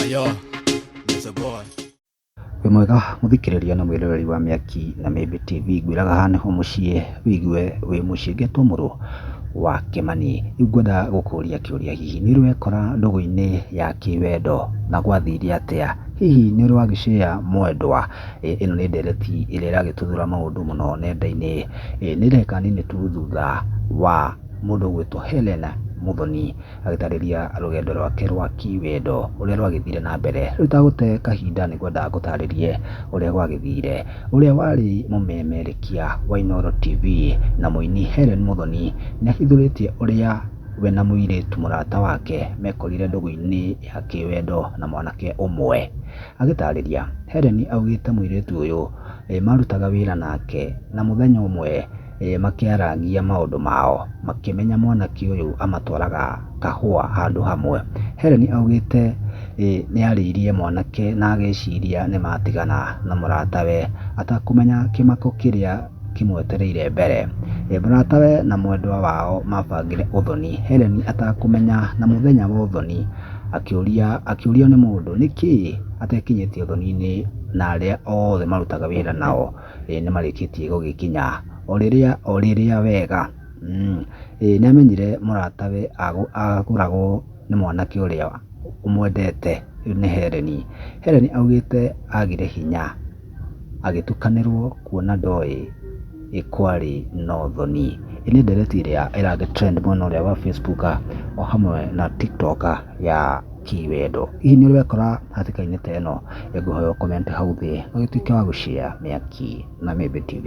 Ayo, Mr. Boy. wĩ mwega mũthikĩrĩria na mwĩroreri wa mĩaki na mĩmbĩ tv ngwĩraga haha nĩho mũciĩ wĩigue wĩ mũciĩ ngetwo mũrũ wa kĩmani rĩu ngwenda gũkũria kĩũria hihi nĩ ũrekora ndũgũ-inĩ ya kĩwendo na gwathire atĩa hihi nĩ ũrĩ wagĩcea mwendwa Ĩ, ĩno nĩ ndereti ĩrĩa ĩragĩtuthũra maũndũ mũno nenda-inĩ Ĩ, nĩ ndagĩka nini tu thutha wa mũndũ ũgwĩtwo Helen Muthoni agĩtaarĩria rũgendo rwake rwa kĩwendo ũrĩa rwagĩthire na mbere. Rĩu itagũte kahinda nĩ ngwenda ngũtaarĩrie ũrĩa gwagĩthire. Ũrĩa warĩ mũmemerekia wa Inooro TV na mũini Hellen Muthoni nĩ ahithũrĩtie ũrĩa we na mũirĩtu mũrata wake mekorire ndũgũ-inĩ ya kĩwendo na mwanake ũmwe. Agĩtaarĩria, Hellen augĩte mũirĩtu ũyũ marutaga wĩra nake na mũthenya ũmwe makĩarangia maũndũ mao makĩmenya mwanake ũyũ amatwaraga kahũa handũ hamwe. Helen augĩte nĩ arĩirie mwanake na agĩciria nĩ matigana na mũratawe atakũmenya kĩmako kĩrĩa kĩmwetereire mbere. Mũratawe na mwendwa wao mabangire ũthoni Helen atakũmenya na mũthenya wa ũthoni akĩũrio nĩ mũndũ nĩkĩĩ atekinyĩtie ũthoni-inĩ na arĩa othe marutaga wĩra nao. ĩĩ nĩ marĩkĩtie gũgĩkinya. O rĩrĩa o rĩrĩa wega, mmh. Ĩĩ nĩ amenyire mũratawe agũragwo nĩ mwanake ũrĩa ũmwendete nĩ Hellen. Hellen augĩte agire hinya agĩtukanĩrwo kuona ndoĩ kwarĩ na ũthoni. Ĩĩ nĩ ndereti ĩrĩa ĩra trend mwena ũrĩa wa Facebook o hamwe na TikTok ya... kĩwendo. Hihi nĩ ũrekora hatĩka-inĩ ta ĩno? Ngũhoya ũ comment hau thĩ na ũgĩtuĩke wa gũ share Mĩaki na Mĩmbi TV.